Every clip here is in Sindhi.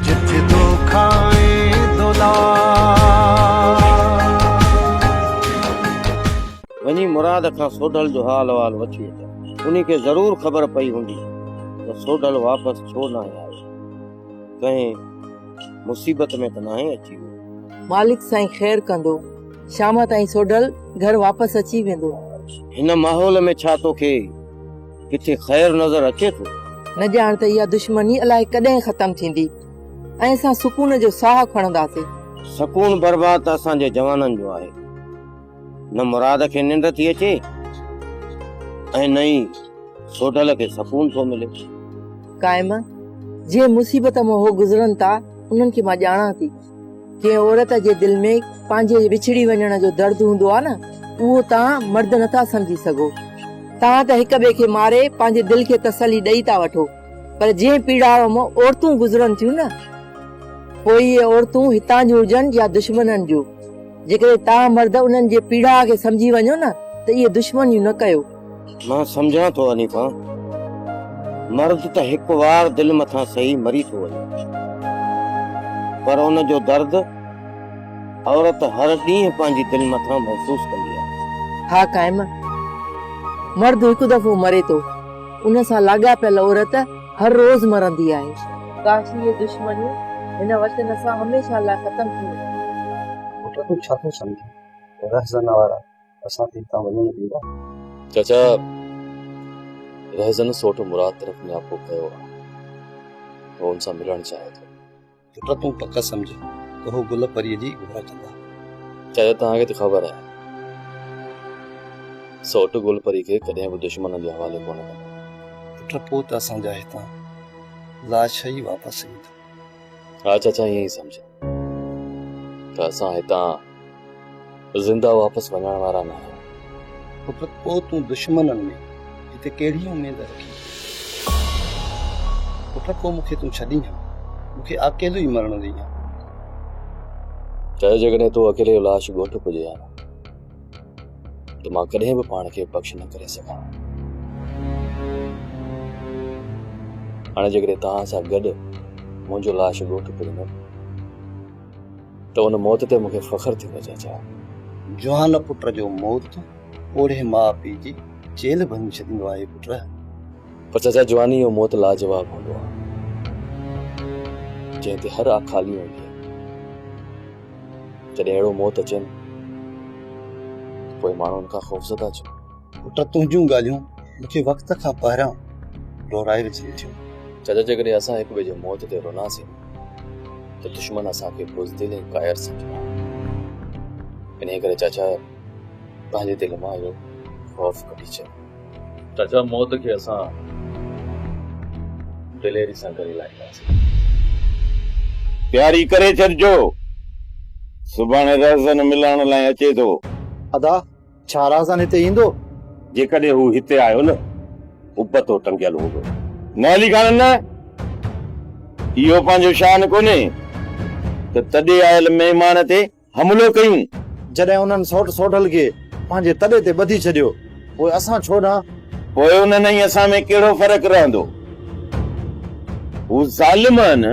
جت دوکا ۽ دولار. وڃي مراد کان سوڍل جو حال احوال وٺي اچ. انهي کي ضرور خبر پئي هوندي ته سوڍل واپس ڇو ناهي آيو. ڪنهن مصيبت ۾ ته ناهي اچي ويو. مالڪ سائين خير ڪندو. شام تائين سوڍل گهر واپس اچي ويندو. هن ماحول ۾ ڇا توکي. ڪٿي خير نظر اچي ٿو. نه ڄاڻ ته اها دشمني الائي ڪڏهن ختم ٿيندي ۽ اسان سڪون جو ساهه کڻنداسين. سڪون برباد ته اسان جي جوانن جو آهي. نه مراد کي ننڊ ٿي اچي ۽ نه ئي سوڍل کي سڪون ٿو ملي. قائمه، جنهن مصيبت مان هو گذرن ٿا، انهن کي مان ڄاڻان ٿي. جنهن عورت جي دل ۾ پنهنجي وڇڙي وڃڻ جو درد هوندو آهي نه اهو توهان مرد نه ٿا سمجهي سگهو. توهان ته هڪ ٻئي کي ماري پنهنجي دل کي تسلي ڏئي ٿا وٺو پر جنهن پيڙاء مان عورتون گذرن ٿيون نه پوء اهي عورتون هتان جون هجن يا دشمنن جون جيڪڏهن توهان مرد انهن جي پيڙاء کي سمجهي وڃو نه ته اهي دشمنيون نه ڪيو. مان سمجهان ٿو حنيفه، مرض ته هڪ وار دل مٿان سهي مري ٿو وڃي، پر ان جو درد عورت هر ڏينهن پنهنجي دل مٿان محسوس ڪندي آهي. ها قائم، مرد هڪ دفعو مري ٿو، ان سان لاڳاپيل عورت هر روز مرندي آهي. ڪاش هيء دشمني هن وطن سان هميشه لاء ختم ٿي وڃي ها. پٽ تون ڇا ٿو سمجهين؟ رهزن وارا. اسان کي هتان وڃڻ ڏيندا؟ چاچا رهزن سوٽ مراد طرف نياپو ڪيو آ. هو ان سان ملڻ چاهي ٿو. پٽ تون پڪ سمجهه ته هو گل پريء جي گهور ڪندا. چاچا توهان کي ته خبر آهي سوٽ گل پري کي ڪڏهن به دشمنن جي حوالي ڪونه ڪندا. پٽ پوء ته اسان جا هتان لاش ئي واپس ايندا. ها چاچا ائين ئي سمجهه. ته اسان هتان زنده واپس وڃڻ وارا نه آهيون. پٽ پوء تون دشمنن ۾ هتي ڪهڙي اميد رکين ٿو؟ پٽ پوء مون کي تون ڇڏين ها؟ مون کي اڪيلو ئي مرڻ ڏئين ها. چاهي جيڪڏهن تو اڪيلي جو لاش ڳوٺ پڄي ها. ته مان ڪڏهن به پاڻ کي بخش نه ڪري سگهان ها. هاڻي جيڪڏهن توهان سان گڏ منهنجو لاش ڳوٺ پرندو ته ان موت تي مون کي فخر ٿيندو چاچا. جوان پٽ جو موت پوڙهي ماء پيء جي چيلهه ڀڃي ڇڏيندو آهي پٽ. پر چاچا جواني جو موت لاجواب هوندو آهي جنهن تي هر آکالي هوندي آهي. جڏهن اهڙو موت اچين ته پوء ماڻهو ان کان خوفزده ڇو؟ پٽ تنهنجون ڳالهيون مون کي وقت کان پهريان لورائي وجهن ٿيون. چاچا جيڪڏهن اسان هڪ ٻئي جي موت تي روناسين ته دشمن اسان کي بزدل ۽ ڪائر سمجهندا. انهيء ڪري چاچا پنهنجي دل مان اهو خوف ڪڍي ڇڏ. ته ڇا موت کي اسان دليري سان ڪري لاهينداسين. تياري ڪري ڇڏجو سڀاڻي رهزن ملڻ لاء اچي ٿو. ادا ڇا رهزن هتي ايندو؟ جيڪڏهن هو هتي آيو نه ابتو ٽنگيل هوندو. نه علي خان نه اهو پنهنجو شان ڪونهي ته تڏي آيل مهمان تي حملو ڪيون. جڏهن انهن سوٽ سوڍل کي پنهنجي تڏي تي ٻڌي ڇڏيو، پوء اسان ڇو نه. پوء انهن ۽ اسان ۾ ڪهڙو فرق رهندو؟ هو ظالم آهن.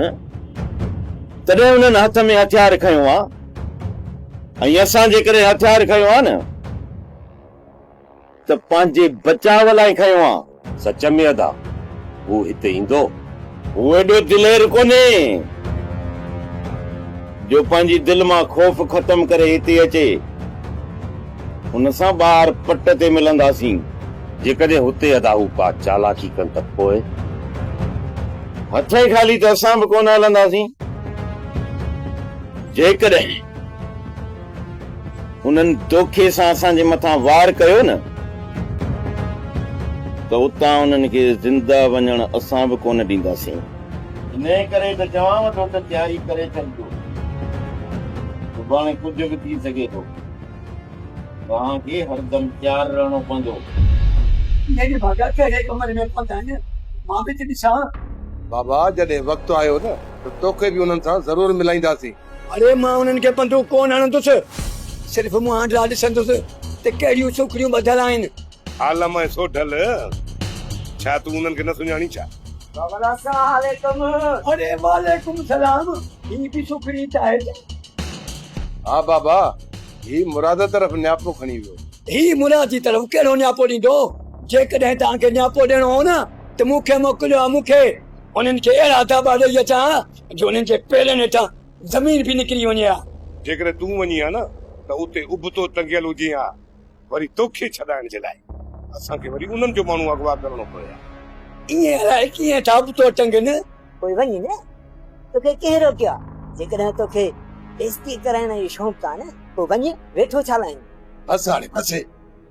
تڏهن انهن هٿ ۾ هٿيار کنيو آ ۽ اسان جيڪڏهن هٿيار کنيو آ نه. ته پنهنجي بچاء لاء کنيو آ. سچ ۾ ادا هو هتي ايندو؟ هو ايڏو دلير ڪونهي جو پنهنجي دل مان خوف ختم ڪري هتي اچي. هن سان ٻاهر پٽ تي ملنداسين. جيڪڏهن هتي ادا هو ڪا چالاڪي ڪن ته پوء؟ هٿين خالي ته اسان به ڪونه هلنداسين. جيڪڏهن. انهن دوکي سان اسان جي مٿان وار ڪيو نه ته اتان انهن کي زنده وڃڻ اسان به ڪونه ڏينداسين. انهيء ڪري ته چوانء ٿو ته تياري ڪري ڇڏجو، سڀاڻي ڪجهه به ٿي سگهي ٿو. توهان کي هردم تيار رهڻو پوندو. ڏيڏ ڀڳا ڪهڙي ڪمري ۾ پنڌ آهن، مان به ته ڏسان. بابا جڏهن وقت آيو نه ته توکي به انهن سان ضرور ملائينداسين. اڙي مان انهن کي بندوق ڪونه هڻندس، صرف منهن ڏانهن ڏسندس ته ڪهڙيون سوکڙيون ٻڌل آهن. عالم ۽ سوڍل، ڇا تون انهن کي نه سڃاڻين ڇا؟ بابل اسلام عليڪم. اڙي وعليڪم سلام، هي به سوکڙي چاهي ٿا. ها بابا، هي مراد طرف نياپو کڻي ويو. هي مراد جي طرف ڪهڙو نياپو ڏيندو؟ جيڪڏهن توهان کي نياپو ڏيڻو هو نه ته مون کي موڪليو ها، مون کي انهن کي اهڙا ڌاٻا ڏئي اچان ها جو انهن جي پيرن هيٺان زمين به نڪري وڃي ها. جيڪڏهن تون وڃين ها نه ته اتي ابتو ٽنگيل هجين ها، وري توکي ڇڏائڻ جي لاء اسان کي وري انهن جو ماڻهو اغوا ڪرڻو پوي ها. ائين الائي ڪيئن ٿا ابتو ٽنگين. پوء وڃ نه، توکي ڪنهن روڪيو آهي؟ جيڪڏهن توکي بيعزتي ڪرائڻ جو شوق آهي نه، پوء وڃ، ويٺو ڇا لاء آهين؟ بس هاڻي بس.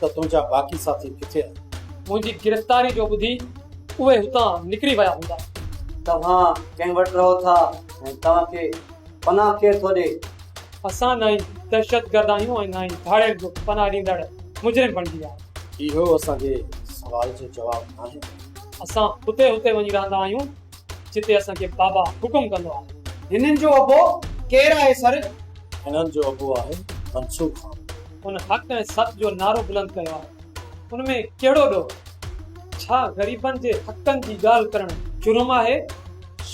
ته تنهنجا باقي ساٿي ڪٿي آهن؟ منهنجي گرفتاري جو ٻڌي اهي هتان نڪري ويا هوندا. توهان ڪنهن وٽ رهو ٿا ۽ توهان کي پناهه ڪير ٿو ڏي؟ اسان نه ئي دهشتگرد آهيون ۽ نه ئي ڌاڙيل جو پناهه ڏيندڙ مجرم بڻجي ويا آهيون. اهو اسان جي سوال جو جواب ناهي. اسان هتي هتي وڃي رهندا آهيون جتي اسان کي بابا حڪم ڪندو آهي. هنن جو ابو ڪير آهي سر؟ هنن جو ابو آهي منصور خان. هن حق ۽ سچ جو نعرو بلند ڪيو آهي، ان ۾ ڪهڙو ڏوهه؟ ڇا غريبن جي حقن جي ڳالهه ڪرڻ جرم آهي؟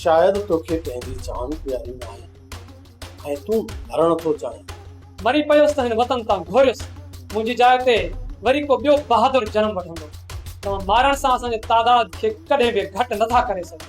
شايد توکي ڪنهن جي جان پياري ناهي ۽ تون مرڻ ٿو چاهين. مري پيس ته هن وطن تان گهوريس، منهنجي جاء تي وري ڪو ٻيو بهادر جنم وٺندو. توهان مارڻ سان اسان جي تعداد کي ڪڏهن به گهٽ نٿا ڪري سگهو.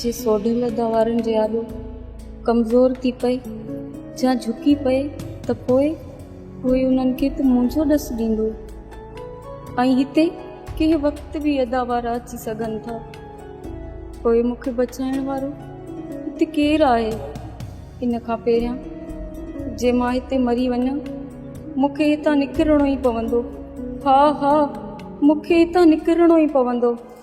جي سوڍل ادا وارن جي آڏو ڪمزور ٿي پئي يا جهڪي پئي ته پوء ڪوئي انهن کي ته منهنجو ڏس ڏيندو ۽ هتي ڪنهن وقت به ادا وارا اچي سگهن ٿا پوء مون کي بچائڻ وارو هتي ڪير آهي ان کان پهريان جي مان هتي مري وڃان مون کي هتان نڪرڻو ئي پوندو ها ها مون کي هتان نڪرڻو ئي پوندو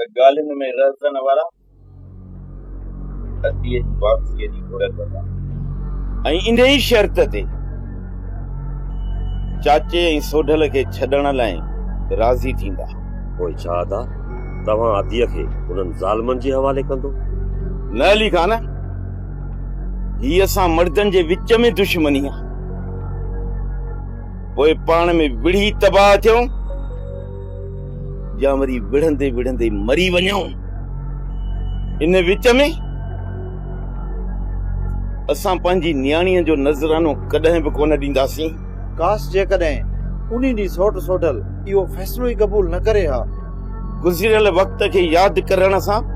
ته ڳالهين ۾ رهزن وارا ادي جي واپسيء جي گهر ڪندا. ۽ انهيء ئي شرط تي چاچي ۽ سوڍل کي ڇڏڻ لاء راضي ٿيندا. پوء ڇا ادا توهان اديء کي انهن ظالمن جي حوالي ڪندو؟ نه علي خان، هي اسان مڙدن جي وچ ۾ دشمني آهي. پوء پاڻ ۾ وڙهي تباهه ٿيون. يا وري وڙهندي وڙهندي مري وڃون ان وچ ۾ اسان پنهنجي نياڻي جو نذرانو ڪڏهن به ڪونه ڏينداسين ڪاش جيڪڏهن انهي ڏينهن سوٽ سوڍل اهو فيصلو ئي قبول نه ڪري ها. گذريل وقت کي ياد ڪرڻ سان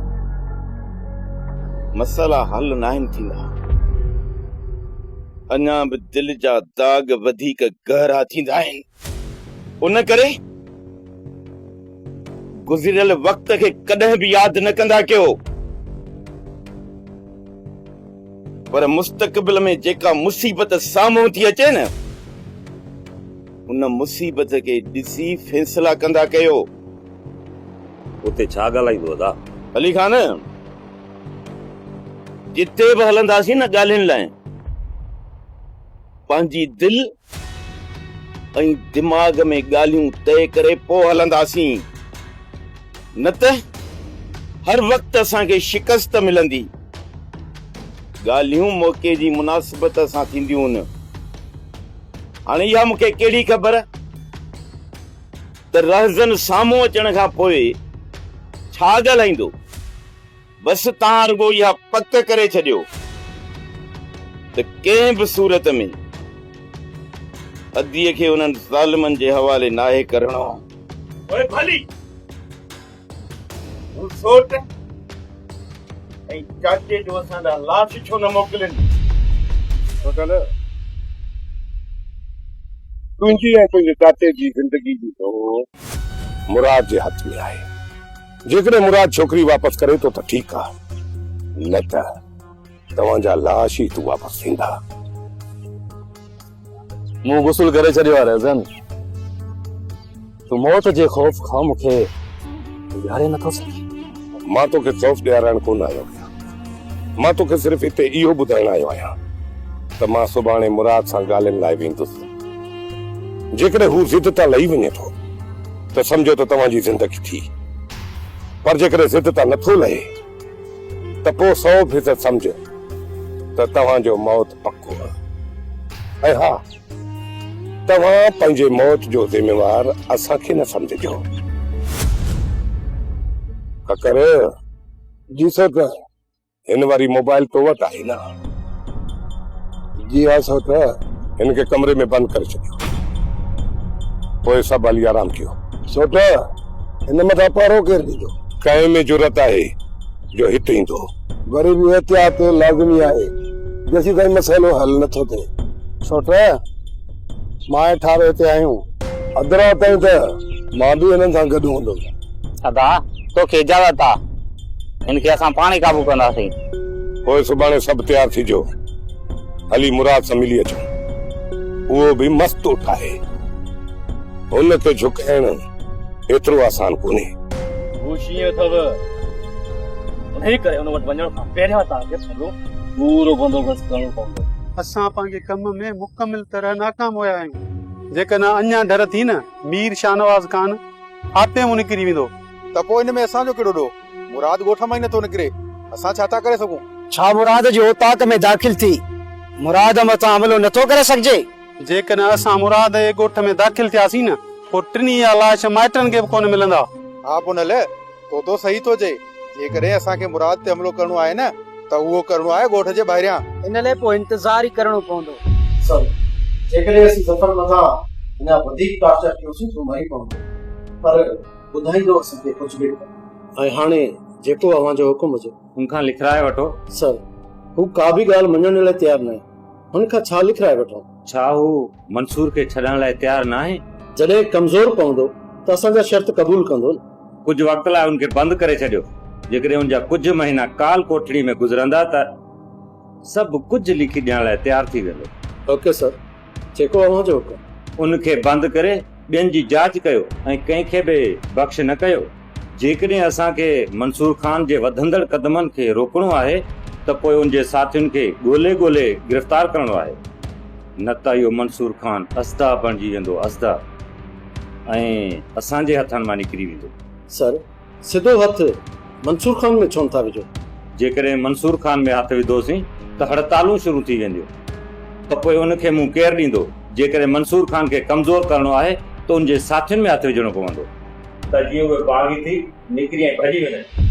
مسئلا حل ناهن ٿيندا اڃا به دل جا داغ وڌيڪ گهرا ٿيندا آهن. ان ڪري گذريل وقت کي ڪڏهن به ياد نه ڪندا ڪيو پر مستقبل ۾ جيڪا مصيبت سامهون ٿي اچي نه ان مصيبت کي ڏسي فيصلا ڪندا ڪيو اتي ڇا ڳالهائيندو ادا علي خان جتي به هلنداسين نه ڳالهين لاء پنهنجي دل ۽ دماغ ۾ ڳالهيون طئي ڪري پوء هلنداسين، نه ته هر وقت اسان کي شڪست ملندي. ڳالهيون موقعي جي مناسبت سان ٿينديون هن. هاڻي اها مون کي ڪهڙي خبر ته رهزن سامهون اچڻ کان پوء ڇا ڳالهائيندو؟ بس توهان رڳو اها پڪ ڪري ڇڏيو ته ڪنهن به صورت ۾ اديء کي انهن ظالمن جي حوالي ناهي ڪرڻو. پوء ڀلي هو سوٽ ۽ چاچي جو اسان ڏانهن لاش ڇو نه موڪلين. سوٽل، تنهنجي ۽ تنهنجي چاچي جي زندگي جي ڊوڙ مراد جي هٿ ۾ آهي. جيڪڏهن مراد ڇوڪري واپس ڪري ٿو ته ٺيڪ آ نه ته توهان جا لاش ئي هتون واپس ٿيندا. مون غسل ڪري ڇڏيو آ رهزن. تون موت جي خوف کان مون کي ويهاري نٿو سگهين. مان توکي خوف ڏيارائڻ ڪونه آيو آهيان. مان توکي صرف هتي اهو ٻڌائڻ آيو آهيان ته مان سڀاڻي مراد سان ڳالهين لاء ويندس. جيڪڏهن هو ضد تان لهي وڃي ٿو ته سمجهو ته توهان جي زندگي ٿي. پر جيڪڏهن ضد تان نه ٿو لهي ته پوء سؤ فيصد سمجهه ته توهان جو موت پڪو آهي. ۽ ها توهان پنهنجي موت جو ذميوار اسان کي نه سمجهجو. ڪڪر! ڏسو ته هن واري موبائل تو وٽ آهي نه؟ جي ها سو ته هن کي ڪمري ۾ بند ڪري ڇڏيو. پوء سڀ هلي آرام ڪيو. سوٽ هن مٿان پهرو ڪير ڏيندو؟ ڪنهن ۾ جرئت آهي جو هت ايندو؟ وري به احتياط لازمي آهي جيسيتائين مسئلو حل نٿو ٿئي. سوٽ ماهي ٺارو هتي آهيون. اڌ رات تائين ته مان به هنن سان گڏ هوندس. ادا، توکي اجازت آ. هن کي اسان پاڻ ئي قابو ڪنداسين. پوء سڀاڻي سڀ تيار ٿيجو. هلي مراد سان ملي اچون. اهو به مست اٺ آهي. هن کي جهڪائڻ ايترو آسان ڪونهي. هو شينهن اٿو. انهيء ڪري هن وٽ وڃڻ کان پهريان توهان کي سڄو پورو بندوبست ڪرڻو پوندو. اسان پنهنجي ڪم ۾. مڪمل طرح ناڪام هيا آهيون. جيڪڏهن اڃا ڍر ٿي نه مير شاهنواز خان آپي مون نڪري ويندو. ته پوء ان ۾ اسان جو ڪهڙو ڏوهه؟ مراد ڳوٺ مان ئي نٿو نڪري، اسان ڇا ٿا ڪري سگهون؟ ڇا مراد جي اوطاق ۾ داخل ٿي مراد مٿان حملو نٿو ڪري سگهجي؟ جيڪڏهن اسان مراد جي ڳوٺ ۾ داخل ٿياسين نه پوء ٽنهي جا لاش مائٽن کي به ڪونه ملندا. ها پونئل، طوطو صحيح ٿو چئي، جيڪڏهن اسان کي مراد تي حملو ڪرڻو آهي نه ته اهو ڪرڻو آهي ڳوٺ جي ٻاهريان. ان لئه پوء انتظار ئي ڪرڻو پوندو. سر، جيڪڏهن اسين ظفر مٿان اڃا وڌيڪ ٽارچر ڪيوسين ته مري پوندو، پر ٻڌائيندو اسان کي ڪجهه به نه. ۽ هاڻي جيڪو اوهان جو حڪم هجي. ان کان لکرائي وٺو. سر، هو ڪا به ڳالهه مڃڻ لئه تيار ناهي. هن کان ڇا لکرائي وٺون؟ ڇا هو منصور کي ڇڏڻ لاء تيار ناهي؟ جڏهن ڪمزور پوندو ته اسان جا شرط قبول ڪندو نه؟ ڪجهه وقت لاء هن کي بند ڪري ڇڏيو، جيڪڏهن هن جا ڪجهه مهينا ڪال ڪوٺڙي ۾ گذرندا ته سڀ ڪجهه لکي ڏيڻ لاء تيار ٿي ويندو. اوڪي سر، جيڪو اوهان جو حڪم. ان کي بند ڪري ٻين جي جاچ ڪيو ۽ ڪنهن کي به بخش نه ڪيو، جيڪڏهن اسان کي منصور خان جي وڌندڙ قدمن کي روڪڻو آهي ته پوء ان جي ساٿين کي ڳولي ڳولي گرفتار ڪرڻو آهي نه ته اهو منصور خان اصداء بڻجي ويندو اصداء ۽ اسان جي هٿن مان نڪري ويندو. سر سڌو هٿ منصور خان ۾ ڇونه ٿا وجهو؟ جيڪڏهن منصور خان ۾ هٿ وڌوسين ته هڙتالون شروع ٿي وينديون ته پوء ان کي منهن ڪير ڏيندو؟ جيڪڏهن منصور خان کي ڪمزور ڪرڻو آهي ته ان جي ساٿين ۾ هٿ وجهڻو پوندو. ته جيئن اهي باغي ٿي نڪري ۽ ڀڄي وڃن.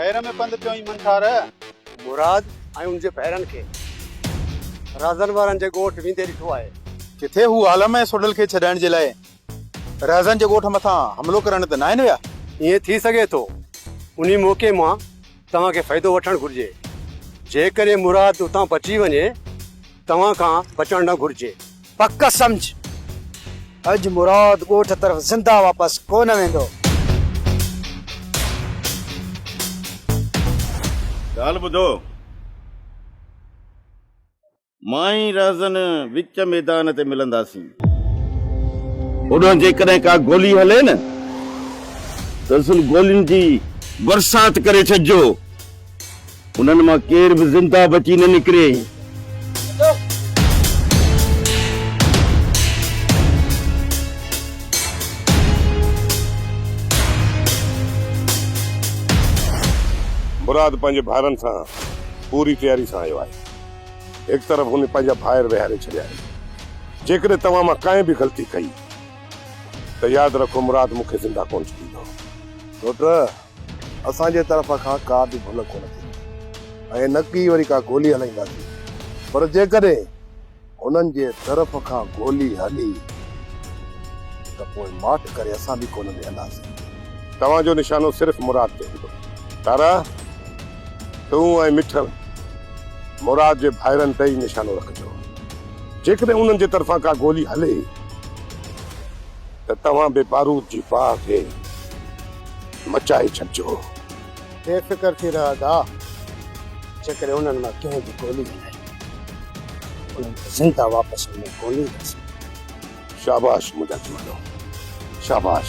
هير ۾ پنڌ پيو ايم ٺار. مراد ۽ ان جي ڀائرن کي رهزن وارن جي ڳوٺ ويندي ڏٺو آهي. ڪٿي هو عالم ۽ سوڍل کي ڇڏائڻ جي لاء رهزن جي ڳوٺ مٿان حملو ڪرڻ ته ناهن ويا؟ ائين ٿي سگهي ٿو. انهي موقعي مان توهان کي فائدو وٺڻ گهرجي. جيڪڏهن مراد اتان بچي وڃي. توهان کان بچڻ نه گهرجي. پڪ سمجهه اڄ مراد ڳوٺ طرف زنده واپس ڪو نه ويندو. ڳالهه ٻڌو. مان ۽ رهزن وچ ميدان تي ملنداسين. هوڏانهن جيڪڏهن ڪا گولي هلي نه ته سن گولين جي برسات ڪري ڇڏجو. انهن مان ڪير به زنده بچي نه نڪري. مراد پنهنجي ڀائرن سان پوري تياري سان آيو آهي. هڪ طرف هن پنهنجا ڀائر ويهاري ڇڏيا آهن. جيڪڏهن توهان مان ڪنهن به غلطي ڪئي ته ياد رکو مراد مون کي زنده ڪونه ڇڏيندو. پٽ! اسان جي طرف کان ڪا به ڀل ڪونه ٿيندي ۽ نه ڪي وري ڪا گولي هلائينداسين پر جيڪڏهن هنن جي طرف کان گولي هلي ته پوء ماٺ ڪري اسان به ڪونه ويهنداسين. توهان جو نشانو صرف مراد تي هوندو. تارا تون ۽ مٺل مراد جي ڀائرن تي ئي نشانو رکجو. جيڪڏهن انهن جي طرفان ڪا گولي هلي. ته توهان به بارود جي باهه کي مچائي ڇڏجو. بي فڪر ٿي رهه ادا، جيڪڏهن انهن مان ڪنهن به گولي هنئي ته انهن کي زنده واپس اڃا ڪونهي ايندي سگهندي. شاباش منهنجا جوانو شاباش.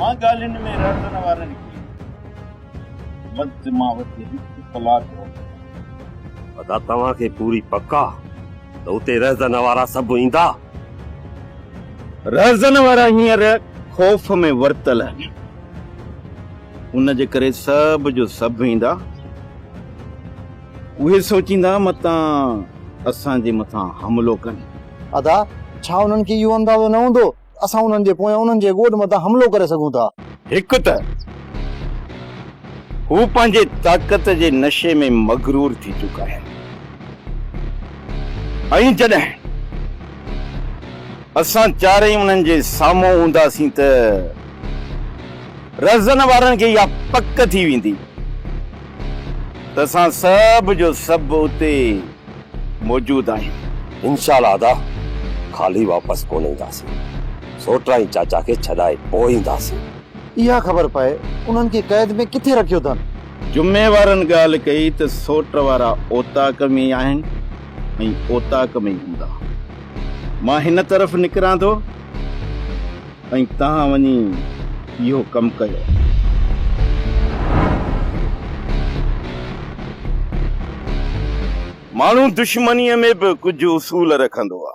مان ڳالهين ۾ رڙندڙ وارن کي وقت مان وڌيڪ هڪ ڪلاڪ روڪندو آهيان. ادا توهان کي پوري پڪ آ ته اتي رهزن وارا سڀ ايندا؟ رهزن وارا هينئر خوف ۾ ورتل آهن ان جي ڪري سڀ جو سڀ ايندا. اهي سوچيندا متان اسان جي مٿان حملو ڪن. ادا! ڇا انهن کي اهو اندازو نه هوندو ته اسان انهن جي پويان انهن جي ڳوٺ مٿان حملو ڪري سگهون ٿا؟ هڪ ته هو پنهنجي طاقت جي نشي ۾ مغرور ٿي چڪا آهن ۽ جڏهن اسان چارئي انهن جي سامهون هونداسين ته رهزن وارن کي اها پڪ ٿي ويندي ته اسان سڀ جو سڀ اتي موجود آهيون. انشاء الله ادا خالي واپس ڪونه اينداسين سوٽرائي چاچا کي ڇڏائي پوء اينداسين. اها خبر پئي انهن کي قيد ۾ ڪٿي رکيو اٿن. جمعي وارن ڳالهه ڪئي ته سوٽ وارا اوطاق ۾ ئي آهن ۽ اوطاق ۾ ئي هوندا. مان هن طرف نڪران ٿو. ۽ توهان وڃي اهو ڪم ڪيو. ماڻهو دشمنيء ۾ به ڪجهه اصول رکندو آ،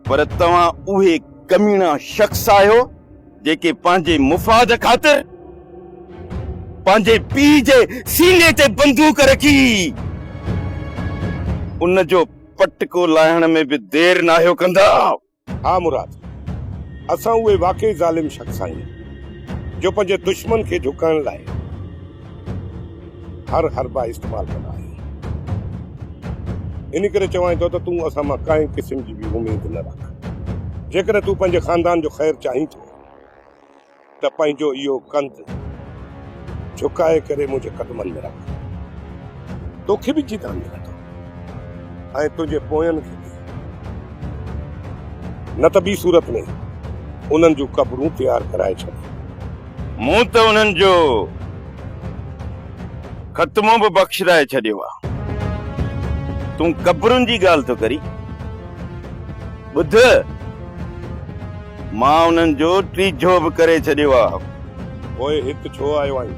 پر توهان اهي ڪميڻا شخص آهيو، جيڪي پنهنجي مفاد خاطر پنهنجي پيء جي سيني تي بندوق رکي، ان جو پٽڪو لاهڻ ۾ به دير ناهيو ڪندا. ها مراد! اسان اهي واقعي ظالم شخص آهيون، جو پنهنجي دشمن کي جهڪائڻ لاء هر حربا استعمال ڪندا آهيون. ان ڪري چوانء ٿو ته تون اسان مان ڪنهن قسم جي به اميد نه رک. جيڪڏهن تون پنهنجي خاندان جو خير چاهين ٿو. ته پنهنجو اهو ڪنڌ جهڪائي ڪري منهنجي قدمن ۾ رک. توکي به جيتان ملندو ۽ تنهنجي پوين کي به. نه ته ٻي صورت ۾ انهن جون قبرون تيار ڪرائي ڇڏ. مون ته انهن جو خاتمو به بخشرائي ڇڏيو آ. تون قبرن جي ڳالهه ٿو ڪرين. ٻڌ! مان انهن جو ٽيجهو به ڪري ڇڏيو آهي. پوء هت ڇو آيو آهين؟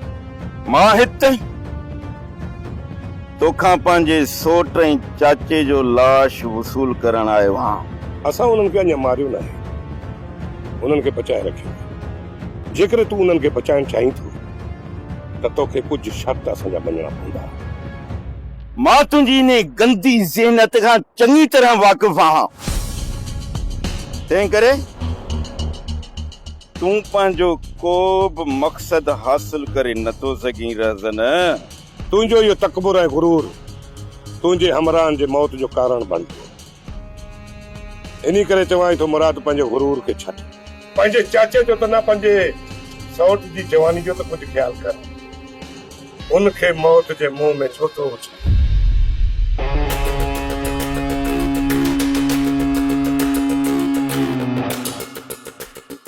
مان هت توکان پنهنجي سوٽ ۽ چاچي جو لاش وصول ڪرڻ آيو آهيان. اسان انهن کي اڃا ماريو ناهي. انهن کي بچائي رکيو آهي. جيڪڏهن تون انهن کي بچائڻ چاهين ٿو ته توکي ڪجهه شرط اسان جا مڃڻا پوندا. مان تنهنجي انهي گندي ذهنيت کان چڱي طرح واقف آهيان. تنهنڪري تون پنهنجو ڪو به مقصد حاصل ڪري نه ٿو سگهين، رهزنه. تنهنجو اهو تڪبر ۽ غرور تنهنجي همراهن جي موت جو ڪارڻ بڻجي. انهيء ڪري چوانء ٿو مراد پنهنجي غرور کي ڇڏ. پنهنجي چاچي جو ته نه پنهنجي سئوٽ جي جواني جو ته ڪجهه خيال ڪر. ان کي موت جي منهن ۾ ڇو ٿو اڇلين.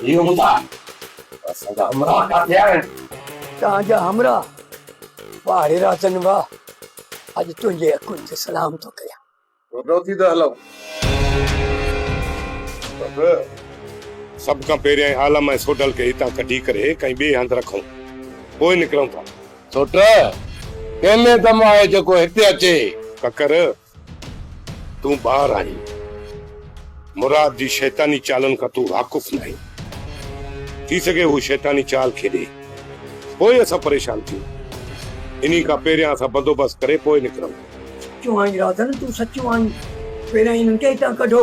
اهو ٻڌاء ته اسان جا همراهه ڪاٿي آهن؟ تان جا همراهه ٻاهري راتن هئا. اڄ تنهنجي اکين تي سلام ٿو ڪريان. وڌو ٿي ته هلئون. بس. سڀ کان پهريائين عالم ۽ سوڍل کي هتان ڪڍي ڪري ڪنهن ٻئي هنڌ رکئون. پوء نڪرئون ٿا. سوٽ، ڪنهن ۾ دم آهي جيڪو هتي اچي؟ ڪڪر، تون ٻار آهين. مراد جي شيطاني چالن کان تون واقف ناهين. ٿي سگهي هو شيطاني چال کيڏي. پوء اسان پريشان ٿيون. انهي کان پهريان اسان بندوبست ڪري پوء نڪرئون. چوهائين رازن تون سچو آهين، پهريائين هنن کي هتان ڪڍو.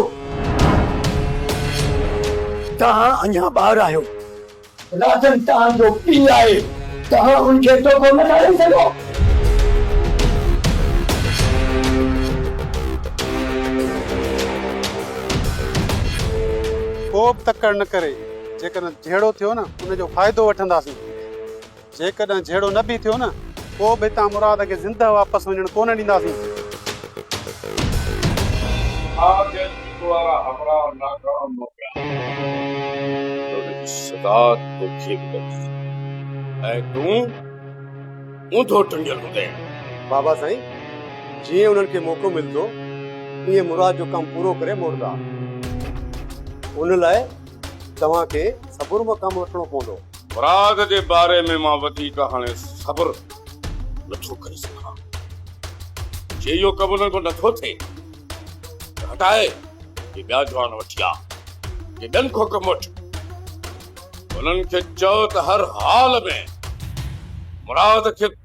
توهان اڃا ٻار آهيو. رازن توهان جو پيء آهي، توهان هن کي دوکو نه ٿا ڏئي سگهو. ڪوبه تڪڙ نه ڪري، جيڪڏهن جهيڙو ٿيو نه ان جو فائدو وٺنداسين. جيڪڏهن جهيڙو نه به ٿيو نه پوء به هتان مراد کي زندهه واپس وڃڻ ڪونه ڏينداسين. آء جيل جي ڪوارا همراهه نه ڪرڻ موڪليان ٿو. ته ان جي سزا توکي به لڳي ۽ تون اونڌو ٽنگيل هوندين. بابا سائين جيئن انهن کي موقعو ملندو تيئن مراد جو ڪم پورو ڪري موٽندا. ان لاء توهان کي صبر مان ڪم وٺڻو پوندو. فراغ جي باري ۾ مان وڌيڪ هاڻي صبر نٿو ڪري سگهان. جي اهو ڪم انهن کان نٿو ٿئي ته هٽائي اهي ٻيا جوان وٺي آ جي ٻين کان ڪم وٺن. انهن کي چئو ته هر حال ۾ مراد کي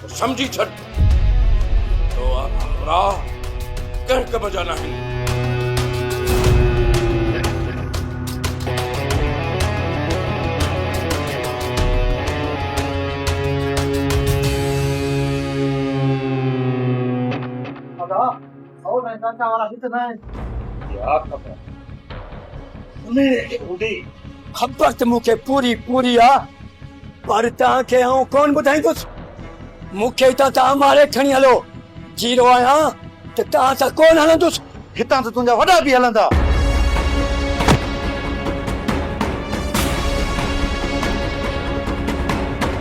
ته سمجهي ڇڏ ته اها همراهه ڪنهن ڪم جا ناهن. اهو سائين ڪاڪا وارا ڏس سائين. يا خدا انهيء کي ٻڌي. خبر ته مون کي پوري پوري آ پر توهان کي آئون ڪونه ٻڌائيندس. مون کي هتان تان ماري کڻي هلو. جيئرو آهيان ته توهان سان ڪونه هلندس. هتان ته تنهنجا وڏا به هلندا.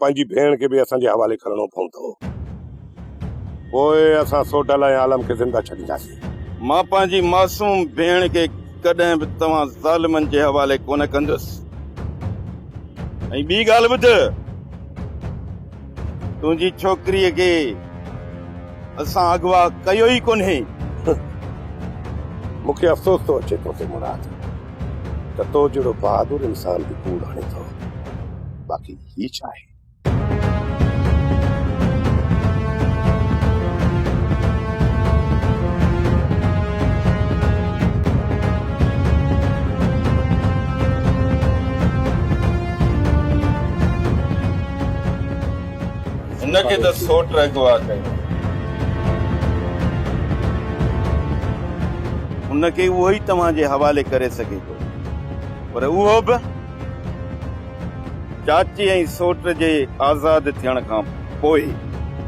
پنهنجي ڀيڻ کي به اسان جي حوالي ڪرڻو پوندو. پوء اسان سوڍل ۽ عالم کي زنده ڇڏينداسين. مان پنهنجي معصوم ڀيڻ کي ڪڏهن به توهان ظالمن جي حوالي ڪونه ڪندس. ۽ ٻي ڳالهه ٻڌ، تنهنجي ڇوڪريء کي اسان اغوا ڪيو ئي ڪونهي. مون کي افسوس ٿو اچي تو تي مراد، ته تو جهڙو بهادر انسان به ڪوڙ هڻي ٿو. باقي هي ڇا آهي؟ هن کي ته سوٽ اغوا ڪيو. هن کي اهو ئي توهان جي حوالي ڪري سگهي ٿو پر اهو به. چاچي ۽ سوٽ جي آزاد ٿيڻ کان پوء.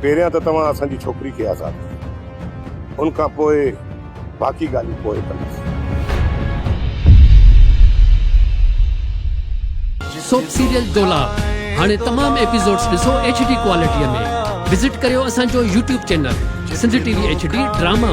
پهريان ته توهان اسان جي ڇوڪري کي آزاد ڪيو. ان کان پوء باقي ڳالهيون پوء ڪنداسين. سوپ سيريل دولاب هاڻي تمام ايپيسوڊز ڏسو ايڇ ڊي ڪوالٽيء ۾ وزٽ ڪريو اسان جو YouTube channel Sindh T V H D drama.